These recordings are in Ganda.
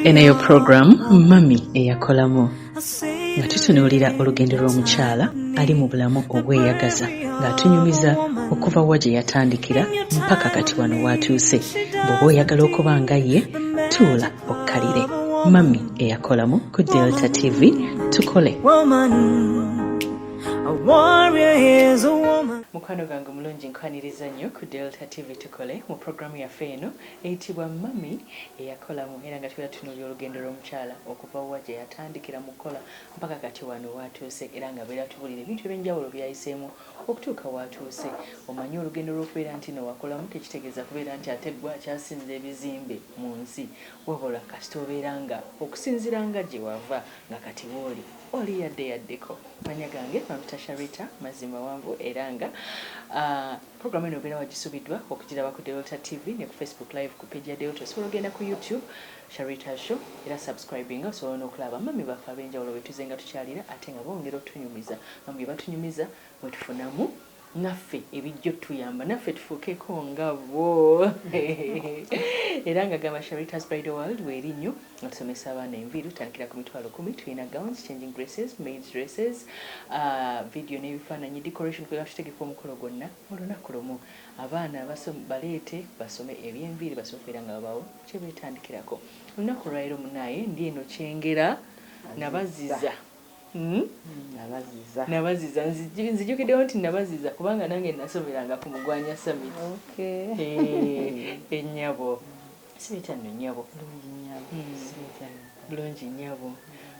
eno eyo puroguramu mami eyakolamu nga tutunuulira olugendo lw'omukyala ali mu bulamu obweyagaza ng'atunyumiza okuva wa gye yatandikira mpaka kati wano waatuuse bw'oba oyagala okuba nga ye tuula okkalire mami eyakolamu ku delta tv tukole mukwano gwange omulungi nkwaniriza nnyo ku delta tv tukole mu puroguramu yaffe eno Eyitibwa Mummy eyakolamu era nga tubeera tutunuulira olugendo lw'omukyala okuva wa gye yatandikira mu kukola mpaka kati wano w'atuuse era nga abeera atubuulira ebintu eby'enjawulo by'ayiseemu okutuuka w'atuuse. Omanyi olugendo lw'okubeera nti no wakolamu tekitegeeza kubeera nti ate gwe akyasinza ebizimbe mu nsi wabula kasita obeera nga okusinziira nga gye wava nga kati w'oli oli yadde yaddeko. Amannya gange bampita Sharitah Mazzimawanvu era nga Program eno ogenda wagisubidwa okugiraba ku Delta TV ne ku Facebook live ku page ya Delta. Osobola ogenda ku YouTube Sharita Show era subscribinga osobola n'okulaba mummy baffe ab'enjawulo betuzenga tukyalira ate nga bongera otunyumiza. Bambi batunyumiza mwetufunamu naffe ebijja otuyamba naffe tufuukeeko nga bo era nga gamba Sharita's Bridal World weeri nnyo. Otusomesa abaana enviiri tutandikira ku mitwalo kumi tulina gowns changing dresses maids dresses uh, video n'ebifaananyi decoration kwega tutegeka omukolo gwonna mu lunaku lumu abaana baleete basome ebyenviiri basome okubeera nga babawo kyebeetandikirako olunaku olwaleero munaaye ndi eno kyengera nabaziza hmm? nabaziza nzijukiddewo nti nabaziza kubanga nange nasomeranga ku mugwanya summit eh, ennyabo Sweet and nyabo. Bulungi nyabo. Mm. Sweet and bulungi nyabo.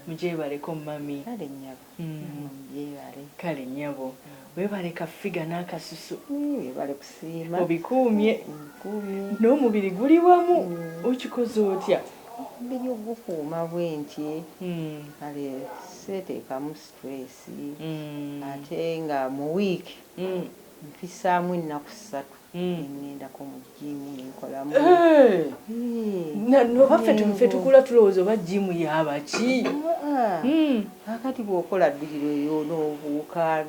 Mujebaleko mami. Kale nyabo. Mm. Mujebale. Kale nyabo. Mm. Webale ka figa na kasusu. Mm. Webale kusima. Obikuumye. Mm. Kuumye. No mubiri guli wamu. Mm. Okikoze otya? Mubiri ogukuuma bwenti. Mm. Kale sete kamu stress. Mm. Ate nga mu week. Mm. Mfisaamu ennaku ssatu. nengendako mu jiimu nenkolamu nobaffe tukula tulowooza oba jiimu yabaki kakati bwokola bbiri lweyo nobuuka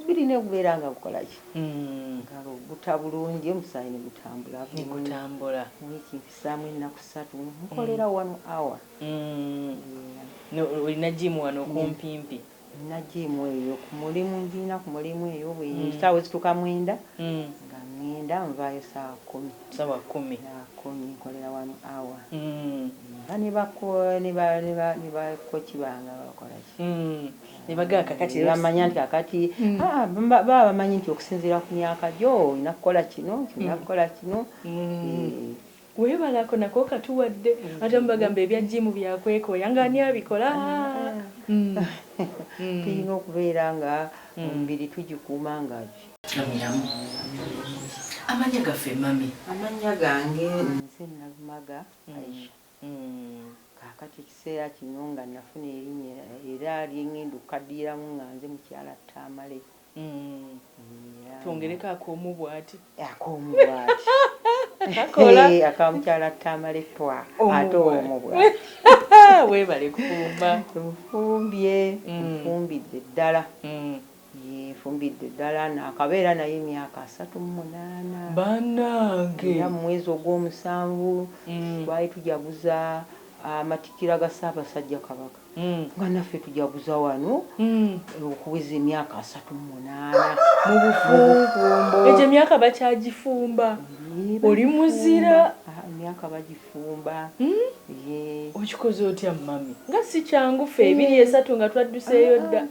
bbiri negubeera nga gukolaki nga guta bulungi omusaayi negutambula gutambula wiiki mpisaamu ennaku ssatu nkolera one hour olina jiimu wano kumpimpi Nnagimu eyo ku mulimu, ngirina ku mulimu eyo bwe ssaawa ezituuka mwenda nga ŋŋenda, nvaayo ssaawa kkumi. Ssaawa kkumi. Ssaawa kkumi, nkolera one hour. Mba ne ba ko, ne ba, ne ba, ne ba kkoci bange aba bakola ki? Ne bagamba kaakati leero. Ne bamanya nti kaakati, haa, baba bamanyi nti okusinziira ku myaka gyo olina kukola kino, olina kukola kino, eeh. Webale ako nako okatuwadde ate mubagamba ebya gym byakwekoya nga ani abikola aah tuyina okubeera nga omubiri tugikuuma nga nga miramu Amanya gaffe mummy. Amannya gange nze Nalumaga Aisha kakati ekiseera kino nga nafuna erinnya era lyengenda okukaddiyilamu nga nze mukyala Tamale. twongereko akoomu bwati akoomu bwati akamukyala tamale twa ate omu bwati webale kufumba nfumbye nfumbidde mm. ddala mm. nfumbidde ddala nakabeera naye emyaka asatu mumunaana banange era mumwezi ogwomusanvu mm. twali tujaguza amatikira ga ssaabasajja kabaka nga naffe tujaguza wano okuweza emyaka asatu mu munaana mu bufumbo. Egyo emyaka bakyagifumba? Oli muzira. Ah, emyaka bagifumba. Hmm? Okikoze otya mami? Nga si kyangu ffe ebiri hmm. esatu nga twadduseeyo dda. Ah,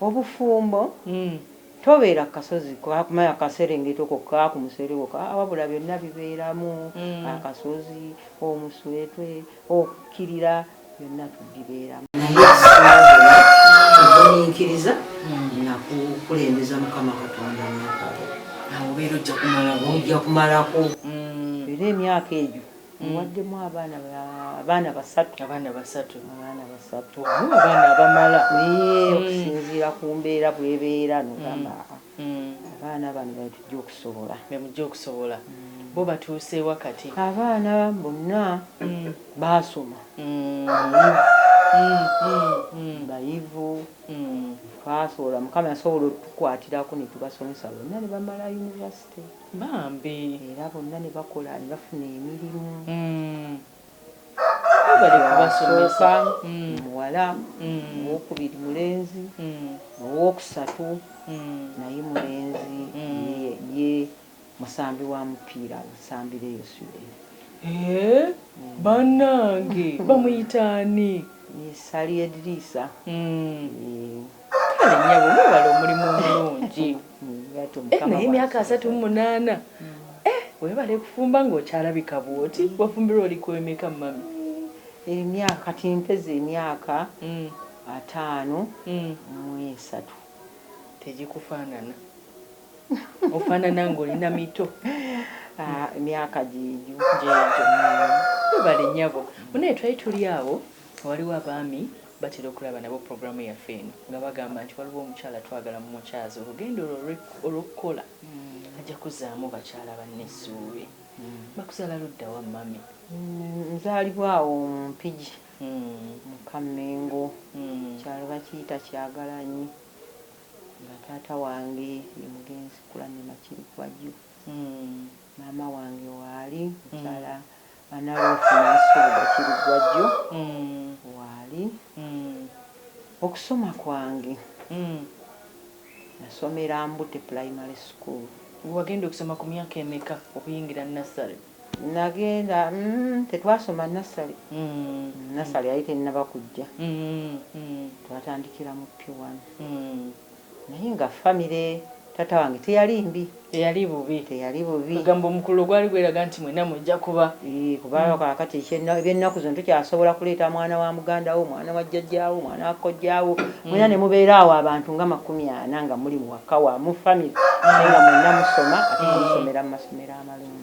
ah. Obufumbo hmm. tobeera ku kasozi kumaya kaserengeta oko ka ku musereko wabula byonna bibeeramu akasozi omuswetwe okukirira byonna tugibeeramu naye okugumiikiriza nakukulembeza mukama katonda nakabo awobeera ojja kumalako ojja kumalako mm. era emyaka egyo muwaddemu mm. abaana abaana basatu abaana basatu abaana basatu abaana abamala mm. okusinziira ku mbeera bwebeera nogamba abaana bano betujja okusobola bemujja okusobola bo batuuseewa kati abaana bonna baasoma bayivu twasobola mukama yasobola otukwatirako netubasomesa bonna ne bamala yunivasite bambi era bonna ne bakola ne bafuna emirimu mm. basooka mm. muwala mm. owokubiri mulenzi owokusatu naye mulenzi ye Musambi wa mupiira awusambira eyo Sweden. Hee banange bamuyita ani. Ye Ssali Ediriisa. Kale nyabo webale omulimu omulungi eh naye emyaka asatu mu munaana eh webale kufumba nga okyalabika bwoti wafumbirwa oli ku emeka mummy? Emyaka kati mpeza emyaka ataano mu esatu. Tegikufaanana. ofanana nga olina mito ah, emyaka gyejo gyejo webale nyabo munaye twali tuli awo waliwo abaami batera okulaba nabo programu yaffe eno nga bagamba nti waliwo omukyala twagala mu mukyazi olugendo olwo olwokukola mm. ajja kuzaamu bakyala banne essuubi mm. bakuzala luddawa mami mm, nzalibwawo omumpigi mukammengo kyalo bakiyita kyagalanyi Nga taata wange ye mugenzi Kulanne Makirikwajju, maama wange waali mukyala Analuufu Nansubuga Bakiriggwajjo, waali okusoma kwange nasomera Mbute Pulayimale School. Wagenda okusoma ku myaka emeka okuyingira Nursery? Nagenda mm tetwasoma nassale nassale yali tenaba kujja twatandikira mu pure one naye nga family taata wange teyali mbi teyali bubi teyali bubi kwegamba omukululo gwali gweraga nti mwena mujja kuba ii kuba kakati ebyenaku zino tokyasobola kuleeta mwana wa muganda wo mwana wa jjajja wo mwana wa kojja wo mwena nemubeera awo abantu nga makumi ana nga muli waka wamu family naye nga mwena musoma ate nga musomera mu masomero amalungi.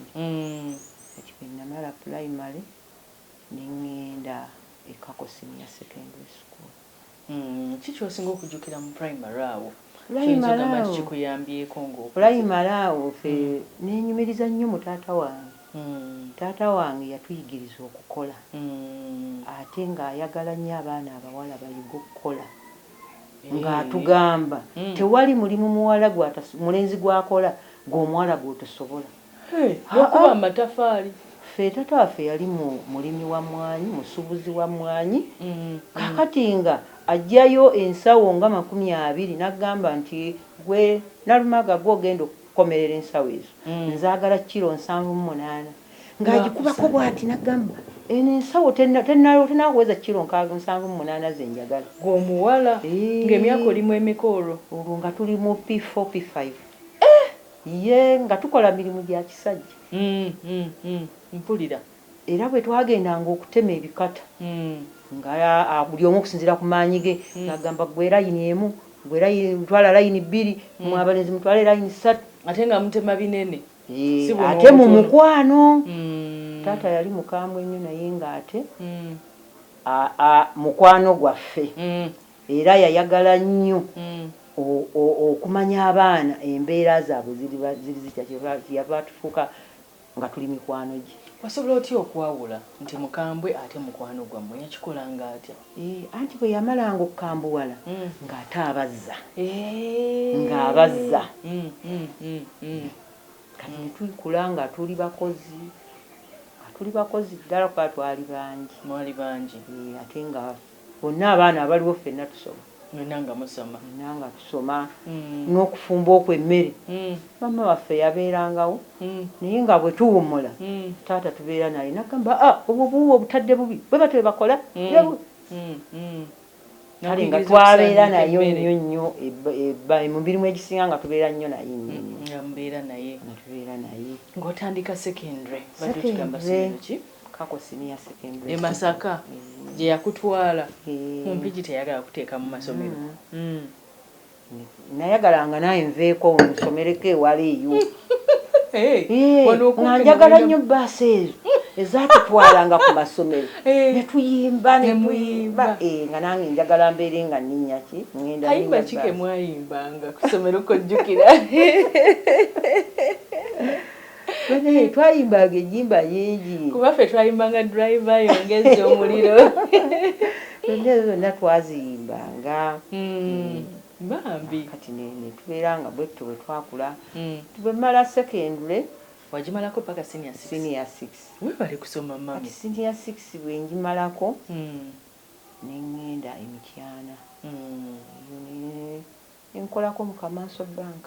Kati bwe nnamala pulayimale ne ŋŋenda e Kako Senior Secondary School. Ki ky'osinga okujjukira mu pulayimale awo ky'oyinza okugamba nti kikuyambyeko ng'okuze? Pulayimale awo ffe neenyumiriza nnyo mu taata wange. Taata wange yatuyigiriza okukola ate ng'ayagala nnyo abaana abawala bayige okukola. nga atugamba tewali mulimu muwala mulenzi gwakola gwe omuwala gwotosobola nokuba mumatafaali ffe tata waffe yali mulimi wa mwanyi musubuzi wa mwanyi kakati nga ajjayo ensawo nga makumi abiri nagamba nti gwe nalumaga gwe ogenda Komerera ensawo ezo nzagala kilo nsanvu mu munaana nga agikubako bwati nagamba eno ensawo tenaweza kilo nkaaga nsanvu mu munaana zenjagala. Gwe omuwala nga emyaka olimu emeka olwo. Olwo nga tuli mu P four P five eeh yee nga tukola mirimu gya kisajja. Uhmm uhmm mpulira. Era bwe twagendanga okutema ebikata, nga buli omu okusinziira ku maanyi ge, ng'agamba ggwe layini emu, ggwe layini, twala layini bbiri, mmwe abalenzi mutwale layini ssatu. Ate nga mutema binene, si buno obutono. Ate mu mukwano. Taata yali mukambwe nnyo naye ng'ate mukwano gwaffe. Era yayagala nnyo okumanya abaana embeera zaabwe ziri zitya. Kyeyava atufuuka. nga tuli mikwano gye. Wasobola otya okwawula nti mukambwe ate mukwano gwammwe? Yakikolanga atya? Eeh, anti bwe yamalanga okukambuwala nga ate abazza. Eeh. Nga abazza. Mm, mm, mm, mm. Kati ne tukula nga tuli bakozi, nga tuli bakozi ddala kuba twali bangi. Mwali bangi. Eeh, ate nga. Bonna abaana abaliwo ffenna tusoma. Mwenna nga musoma. Mwenna nga tusoma. N'okufumba okwo emmere, maama waffe yabeerangawo naye nga bwe tuwummula taata tubeera naye n'atugamba, ah, obwo obuwuuba obutadde bubi. Bwe batyo bwe bakola. Kale nga twabeera nayo nnyo nnyo mu mirimu egisinga nga tubeera nnyo naye nnyo nnyo. Nga mubeera naye. Nga tubeera naye. Ng'otandika secondary, obadde otugamba ssomero ki? Kako senior secondary e Masaka gye yakutwala mu Mpigi teyagala kuteeka mu masomero. Nayagala nga naawe nveeko nsomereko ewala eyo nga njagala nnyo bbaasi ezo ezaatutwalanga ku masomero ne tuyimba ne tuyimba nga nange njagala mbeere nga nninya ki ngenda kayimba ki ke mwayimbanga ku ssomero kojjukira Banaye twayimbanga enyimba nyingi. Kuba fe twayimbanga driver yongeza omuliro. Zonna ezo zonna twaziyimbanga. Mm. Bambi. Kati ne ne tuberanga bwetto bwe twakula. Mm. Bwe mala secondary. Wajimalako paka senior 6. Senior 6. Webale kusoma mami. Kati senior 6 bwe njimalako. Mm. Ne ngenda emityana. Mm. Yone. Enkolako mu kamanso bank.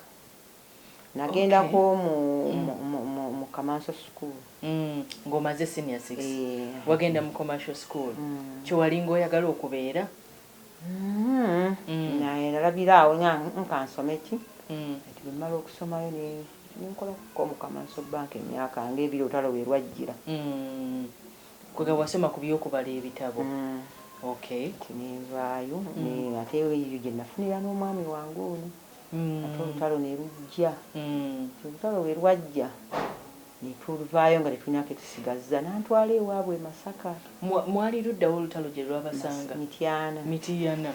Nagenda ko mu mu commercial school. Nga omaze senior six wagenda mu commercial school kyewalinga oyagala okubeera? Nalabira awo nga kansome ki kati bwemala okusomayo nenkola ko mu commercial bank emyaka nga ebiri olutalo werwajjira. Kwegamba wasoma kubyokubala ebitabo. Kati nenvaayo ate eyo gyenafunira nomwami wange ono. ate olutalo ne lujja. Nti olutalo bwe lwajja ne tuvaayo nga tetulina ke tusigazza n'antwala ewaabwe e Masaka. Mwa, mwali ludda wa olutalo gye lwabasanga? Mityana. Mityana.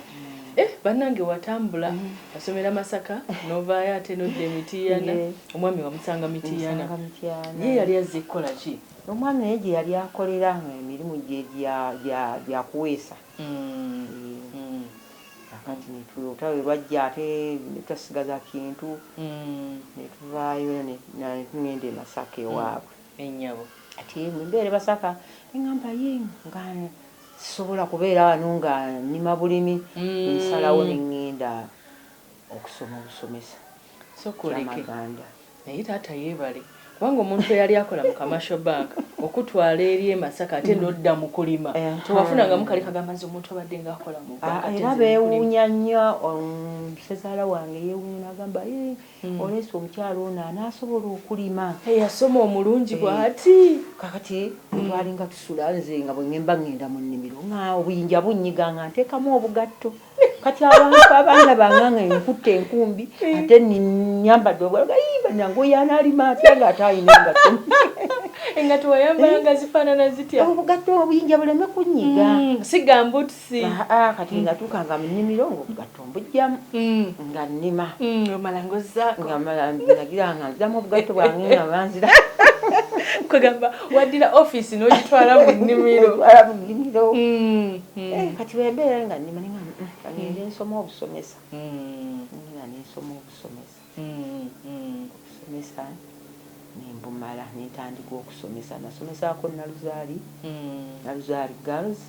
Eh, bannange watambula, wasomera Masaka, n'ovaayo ate n'odda e Mityana. Yee. Omwami wamusanga Mityana. Namusanga Mityana. Ye yali azze kukola ki? Omwami naye gye yali akolera nga emirimu gye gya, gya, gya kuweesa. anti netuloota lwe lwajja ate netwasigaza kintu netuvaayo netugenda e Masaka ewaabwe kati bwembeera e Masaka nengamba yii nga sisobola kubeera wano nga nnima bulimi nensalawo nengenda okusoma obusomesa. sokoleke naye taata yebale kubanga omuntu eyali akola mu commercial bank okutwala eri emasaka ate nodda mu kulima tewafunangamu kali kagamba nze omuntu abadde nga akola mu ah, era bewuunya nnyo um, sezaala wange yewuunya nagamba hmm. oleesa omukyalo ono anaasobola okulima eyasoma omulungi eh, bwati kakati hmm. twalinga tusula nze nga bweŋemba ŋŋenda mu nnimiro nga obuyinja bunyiga nga nteekamu obugatto kati abantu abaana banganga enkutte enkumbi ate nyambadde obwalaga yimba nange oyana alima atya nga ate alina engatto engatto wayambala nga zifaanana zitya obugatto obuyinja buleme kunyiga mm, siga mbutusi ah, ah, kati mm. ngatuukanga mu nnimiro ngaobugatto mbujjamu mm. nga nnima omala ngozaako ngamala nagira nga nzamu obugatto bwange nga banzira kwegamba waddira ofiisi n'ogitwala mu nnimiro Mm. Eh, kati bwembeera nga nnima ninga mm, mm, ngende mm. nsoma obusomesa nga nensoma obusomesa obusomesa nembumala nentandika okusomesa nasomesako naluzaali naluzaali girls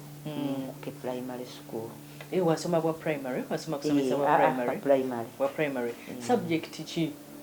ke primary school eh, wasoma bwa primary wasoma kusomesa eh, bwa ah, ah, primary subject ki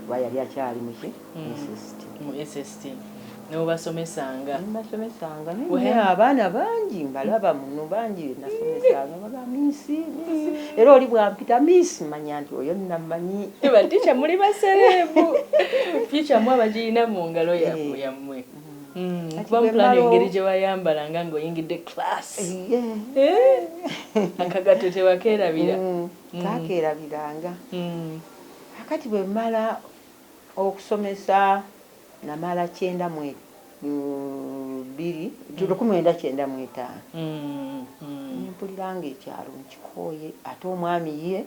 kuba yali akyali muki mm. SST mu SST nobasomesanga basomesanga naye abaana bangi mbalaba muno bangi nasomesanga baba misi misi era oli bwampita misi manya nti oyo namanyi baticha muli baserebu ficha mwe abagirina mu ngalo yamwe eh. yamwe Mm, kuba mupulani engeri gye wayambala nga ng'oyingidde class eh? akagatto tewakeerabira mm, mm. kakeerabiranga Kakati bwe mmala okusomesa, namala kyenda mu bbiri, lukumi lwenda kyenda mu etaano, ne mpulira nga ekyalo nkikooye ate omwami ye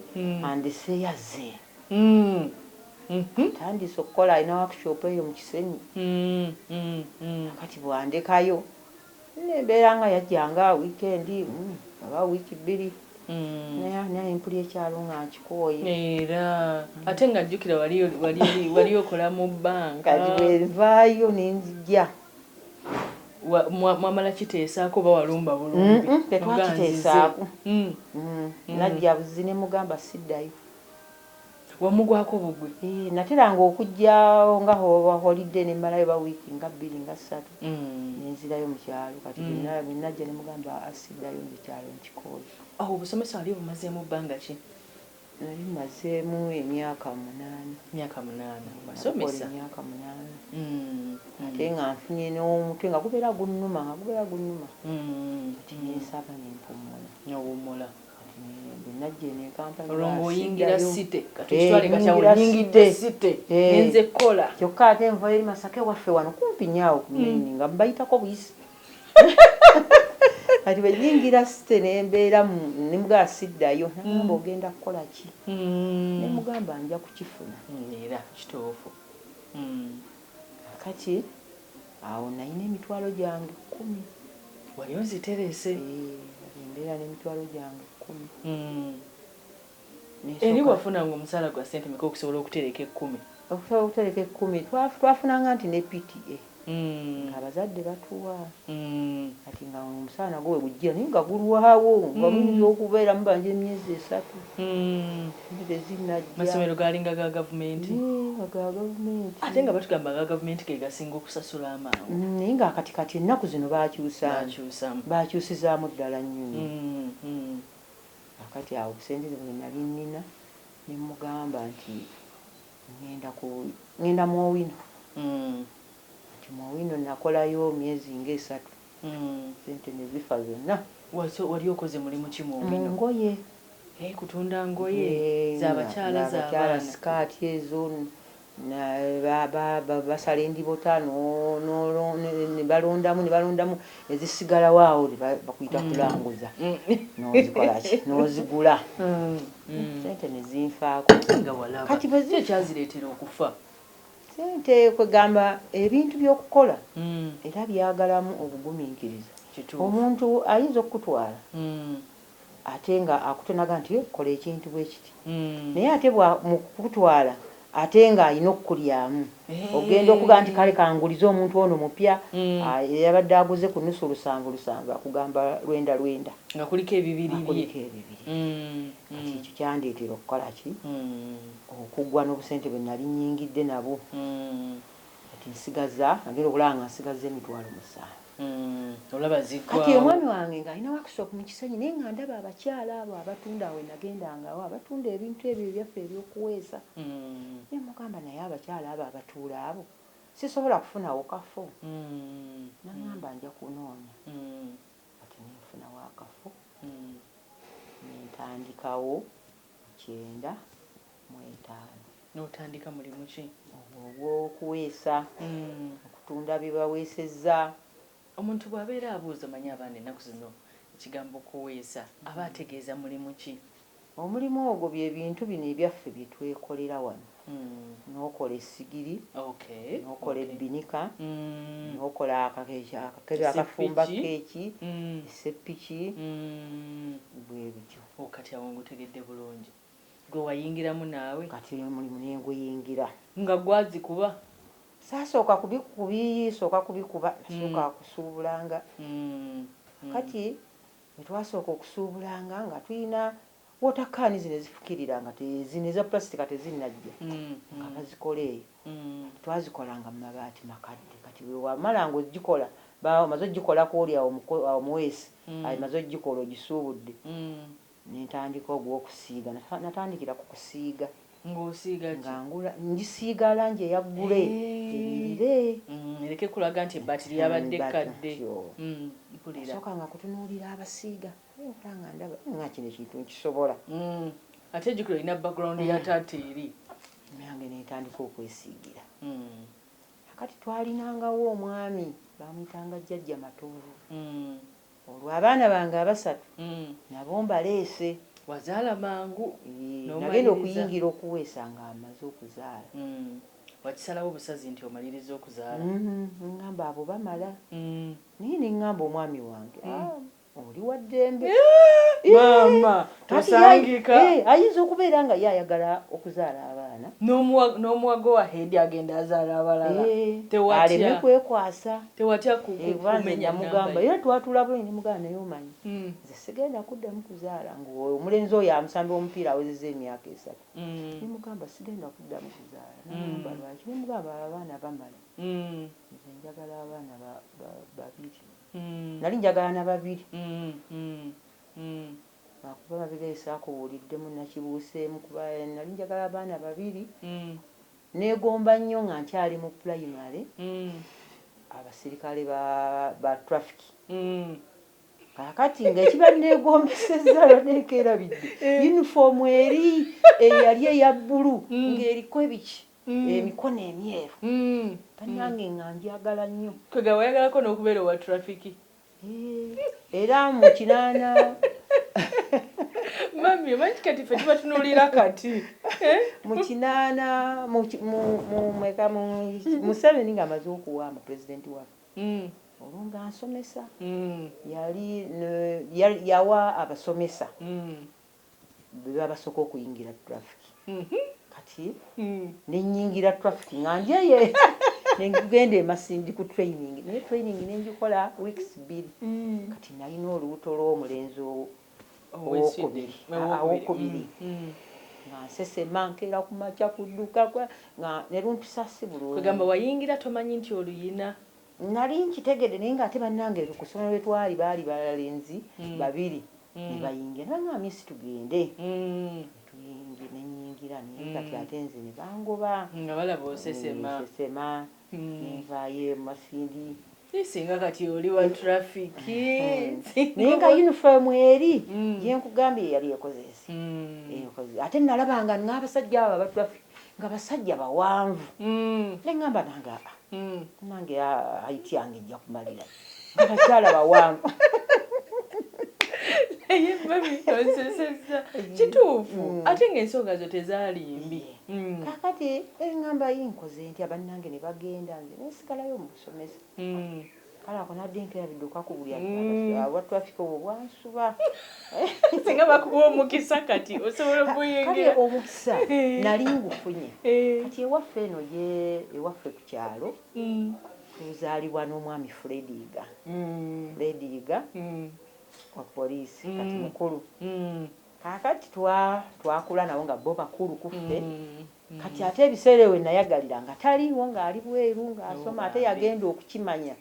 andese yazze. Atandiise okukola alina workshop eyo mu Kisenyi. Kakati bw'andekayo. Embeera nga yajja nga weekend emu oba week bbiri naye naye mpulira ekyalo nga nkikooye. Era ate nga jjukira wali wali wali okola mu bank. Kati bwenvaayo nenzija. Mwamala kiteesaako oba walumba bulumbi? Tetwakiteesaako. Najja buzzi nemugamba siddayo. wamugwako bugwi. Eeh nateranga okujjawo nga oba holiday nemmalayo oba week nga bbiri nga ssatu nenzirayo mukyalo kati bwenajja nemugamba aa siddayo nze ekyalo nkikooye. Awo obusomesa wali obumazeemu bbanga ki? Nali mmazeemu emyaka munaana. Myaka munaana wasomesa. Emyaka munaana ate nga nfunye n'omutwe nga gubeera gunnuma nga gubeera gunnuma kati nensaba nempummula. Newummula. kyokka ate envayo eri masaka ewaffe wano kumpi nyaawo kumaini mm. nga mbayitako buyisi kati bwenyingira site nembeeramu nemugamba siddayo namba mm. ogenda kukola ki mm. nemugamba nja kukifuna era kituufu kati Awo nnalina emitwalo gyange kkumi. Wali oziterese? Yee, nali mbeera n'emitwalo gyange kkumi. Eri Nsooka, wafunanga omusaala gwa ssente meka okusobola okutereka ekkumi? okusobola okutereka ekkumi twa, twafunanga nti ne PTA nga abazadde batuwa. Kati nga omusaala nagwo we gujjira naye nga gulwawo, nga muyinza okubeera mubanja emyezi esatu. masomero gaalinga ga gavumenti ate nga batugamba ga gavumenti ge gasinga okusasula amangu naye nga kati kati ennaku zino bakyusamu bakyusizaamu ddala nnyo akati awo obusente bwe nali nnina ne mugamba nti ngenda ku ngenda mu owino nti mu owino nakolayo myezi ng'esatu Sente nezifa zonna. Wali okoze mulimu ki mu bino. Mu ngoye. Hee kutunda ngoye za bakyala za baana. Za bakyala skirt ezo basala endibota ne balondamu ne balondamu ezisigalawo awo bakuyita kulanguza nozikola ki nozigula sente ne zinfaako. Kati bwe ziri. Kyo kyazireetera okufa. Ssente, kwegamba ebintu by'okukola era byagalamu obuguminkiriza. Omuntu ayinza okukutwala ate nga akutonaga nti kola ekintu bwekiti naye ate bwa mukukutwala ate nga alina okukulyamu ogenda okuga nti kale kangulize omuntu ono mupya eyabadde aguze ku nusu lusanvu lusanvu akugamba lwenda lwenda nga kuliko ebibiri bye kati ekyo kyandetera okukola ki? okugwa nobusente bwenali nyingidde nabwo kati nsigaza nagenda okulaba nga nsigazza emitwalo musanvu kati omwami wange nga alina workshop mu kisenyi naye nga ndaba abakyala abo abatunda awo wenagendanga awo abatunda ebintu ebyo ebyaffe ebyokuweesa nemugamba naye abakyala abo abatuula abo sisobola kufunawo kafo nangamba nja kunoonya kati nenfunawo akafo nentandikawo. kyenda mu etaano. N'otandika mulimu ki? Ogwo ogw'okuweesa, okutunda bye baweesezza. Omuntu bw'abeera abuuza omanyi abaana ennaku zino ekigambo kuweesa aba ategeeza mulimu ki? Omulimu ogwo bye bintu bino ebyaffe bye twekolera wano. N'okola essigiri, n'okola ebbinika, n'okola akakebe akafumba kkeeki, esseppiki, bwe bityo. O, kati awo ngutegedde bulungi. Gwe wayingiramu naawe? Kati oyo omulimu ne nguyingira. Nga ggwe azikuba? Saasooka kubisooka kubikuba, nasooka kusuubulanga. Kaakati bwe twasooka okusuubulanga nga tulina Water can zino ezifukirira nga te zino eza plastic nga tezinnajja nga bazikola eyo. Twazikolanga mu mabaati makadde kati bwe wamala ng'ogikola ba omaze ogikola kw'oli awo omuko omuweesi amaze ogikola ogisuubudde ne ntandika ogw'okusiiga nata natandikira ku kusiiga Ng'osiiga ki? nga ngula ngisiiga langi eya ggule enyirire Eehh ereke kulaga nti ebbaati lyabadde kkadde. Mpulira. Nasookanga kutunuulira abasiiga. Naye mpanga ndaba nga kino ekintu nkisobola. Mm. Ate jukira olina background ya taata eri. Nange nentandika okwesiigira. Mm. Akati twalinangawo omwami bamuyitanga jjajja Matovu. Mm. Olwo abaana bange abasatu mm. nabo mbaleese. Wazaala mangu. Nagenda okuyingira okuweesa nga amaze okuzaala. Mm. Wakisalawo busazi nti omaliriza okuzaala. Mm. Ngamba abo bamala. Mm. Naye nengamba omwami wange. Mm. Ah. oli wa ddembe maama tosangika ayinza okubeera nga ye ayagala okuzaala abaana n'omuwa go ahead agenda azaala abalala aleme kwekwasa tewatya kukumenya mugamba era twatula bwe ni mugamba naye omanyi hmm. nze sigenda kuddamu kuzaala ng'omulenzi oyo amusambi omupiira awezeza emyaka esatu hmm. ni mugamba sigenda kuddamu kuzaala hmm. namba lwaki ni mugamba abaana bamala nze njagala abaana babiri mm. nali njagala na babiri mm, mm, mm. akuba babiri esaakuwuliddemu nakibuuseemu kuba nali njagala abaana babiri mm. negomba nnyo nga nkyali mu pulayimale mm. abasirikale ba, ba traffic mm. kakati nga ekiba negombeseza lwanekerabidde eh. yunifoomu eri eyali eya bbulu mm. ng'eriko ebiki mm. emikono emyeru mm. banange mm. nga njagala nnyo kwega wayagalako n'okubeera owa trafiki eh, era mu kinaana mami omanyi kati fe tubatunulira kati eh? mu kinaana mweka museveni nga amaze okuwa mu pulezidenti waffe mm. olwo nga nsomesa yali yawa abasomesa bebabasoka okuyingira traffic kati nenyingira traffic nga njeye nengenda emasindi ku training naye training nenjikola weeks biri mm. kati nalina olubuto lwomulenzi owokubiri awokubiri mm, mm. nga nsesema nkeera ku makya kuduka nga nerumpisa si bulungi kwegamba wayingira tomanyi nti oluyina Nali nkitegedde naye nga ate banange kusomero wetwali baali balenzi babiri nebayingira nebangamba miss tugende netuyingira nenyingira naye kati ate nze nebangoba nga balaba osesema nsesema nenvayo emasindi naye singa kati oli wa traffic naye nga uniform eri jenkugambye yeyali ekozesi ate nalabanga nabasajja abo aba traffic nga basajja bawanvu nengamba nange aa. mm. nange height yange ejja kumalira abakyala bawanvu naye mami onseseza kituufu mm. ate ngaensonga zo tezalimbi mm. kakati engamba yinkoze nti abannange ne bagenda nze nesigalayo mu busomesa kale ako nadinka yabiduka ku buli mm. awa traffic obwo bwansuba singa bakuwa omukisa kati osobola okuyingira omukisa eh. nali ngufunye eh. kati ewaffe eno ye ewaffe ku kyalo mm. tuzaalibwa n'omwami frediga mm. frediga wa poliisi kati mukulu kakati twakula nabo nga bo bakulu kuffe Kati ate ebiseera ewe nayagalira nga taliiwo nga ali bweru nga asoma ate yagenda okukimanya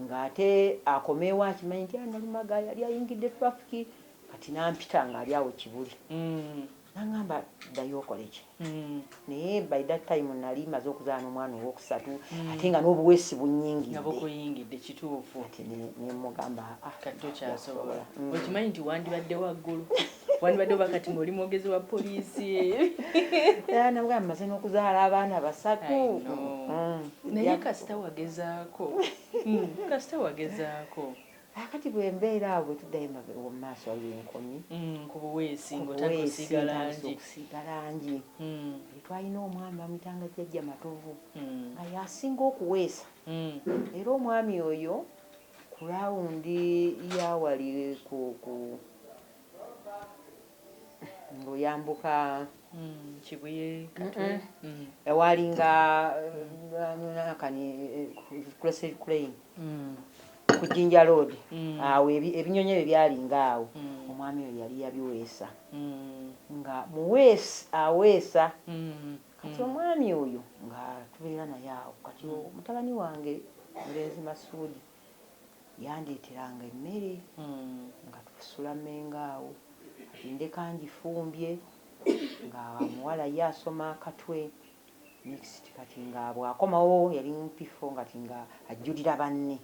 nga ate akoma ewa akimanyi nti analumaga yali ayingidde traffic kati nampita nga ali awo kibuli nangamba dayo okoleki naye by that time nali maze okuzala nomwana owokusatu ate nga nobuwesi bunyingidde kituufu nemugamba ah kati tokyasobola okimanyi nti wandibadde waggulu wandibadde oba kati ngaoli mwogezi wa poliisi era nabwe amaze n'okuzaala abaana basatu mm. naye kasita wagezaako mm, kasita wagezaako akati bwembeera awo bwetuddayo emabega mu maaso waliwo enkomi mm, ku buweesi ngaotakusiiga langi twalina omwami bamuyitanga jjajja matovu nga yasinga okuweesa era omwami oyo Ku laawundi ya wali ku ku ng'oyambuka Mm, Kibuye Katwe. Mm. ewaalinga nakani Crescent Crane Mm. ku Jinja Road Mm. awo ebi- ebinyonyi ebyo byalinga awo Mm. omwami oyo yali yabiweesa Mm. nga muweesi aweesa Mm. Kati omwami oyo nga tubeera naye awo, kati mutabani wange omulenzi Masuudi yandeeteranga emmere nga tusula Mmengo awo, kati ndeka ngifumbye nga omuwala ye asoma Katwe next kati nga bw'akomawo yali mu P4 kati nga ajjulira banne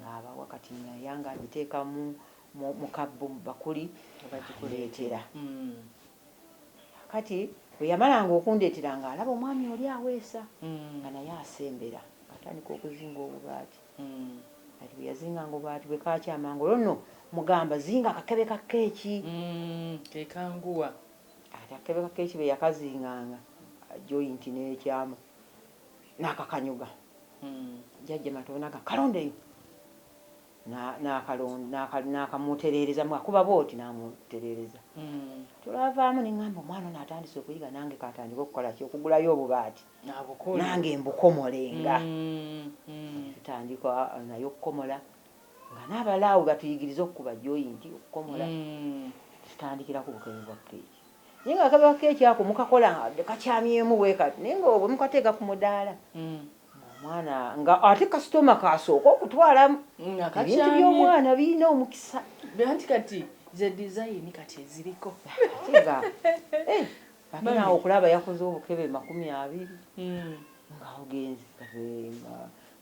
ng'abawa kati nga ya ng'agiteeka mu mu mu kabbo mu bbakuli andeetera. Kaakati bwe yamalanga okundeetera ng'alaba omwami oli aweesa nga naye asembera ng'atandika okuzinga obubaati. Kati bwe yazinganga obubaati bwe kaakyama ng'olwo nno mmugamba zinga akakebe ka kkeeki. Ke kanguwa. Kati akakebe ka kkeeki bwe yakazinganga joyinti n'ekyama n'akakanyuga. Jajja Matovu n'agamba, Kalondeyo! N'akamutereereza, akuba bw'oti n'amutereereza. Olwavaamu ne ŋŋamba omwana ono atandise okuyiga nange kantandike okukola ki? Okugulayo obubaati nange mbukomolenga. Ne tutandika naye okukomola nga n'abalala awo we batuyigiriza okukuba joyinti, okukomola. Ne tutandikira ku bukebe bwa keeki. Naye ng'akakebe ka keeki ako mukakola nga kakyamyemu bwe kati naye nga bwe mukateeka ku mudaala. omwana nga ate kasitoma kasooka okutwala ebintu by'omwana birina omukisa anti kati ze dizayini kati eziriko kiga eh, akinaawe okulaba yakoze obukebe makumi abiri hmm. nga ogenzi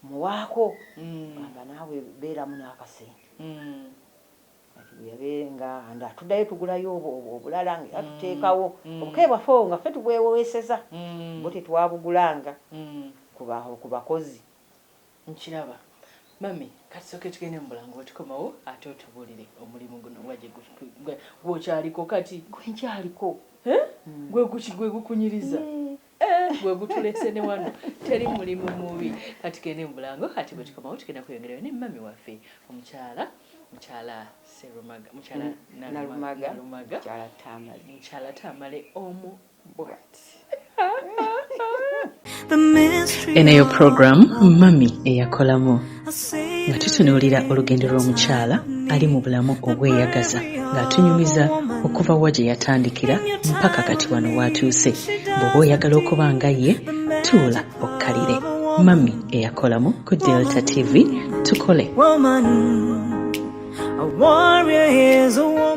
muwaako hmm. gamba naawe beeramu n'akasente hmm. Kati bwe yabeere nga nda tuddayo tugulayo obwo obwo obulala nga era tuteekawo obukebe bwaffe obwo nga ffe tubwewoweseza bwo tetwabugulanga ku ba ku bakozi. Nkiraba. Mummy kati sooke tugende mu bulamu bwe tukomawo ate otubuulire omulimu guno nga gye gwe gw'okyaliko kati. Gwe nkyaliko. Hee? Gwe guki gwe gukunyiriza? Yee. Eh, gwe gutulese ne wano teri mulimu mubi kati gende mubulango kati bwe tukomawo tugenda kweyongerayo ne mami waffe omukyala mukyala serumaga mukyala nalumaga mukyala tamale omu bwat eno yo program mami eyakolamu nga tutunuulira olugendo lw'omukyala ali mu bulamu obweyagaza ng'atunyumiza okuva wa gye yatandikira mpaka kati wano waatuuse bw'oba oyagala okuba nga ye tuula okkalire mami eyakolamu ku delta tv tukole woman, a warrior is a woman.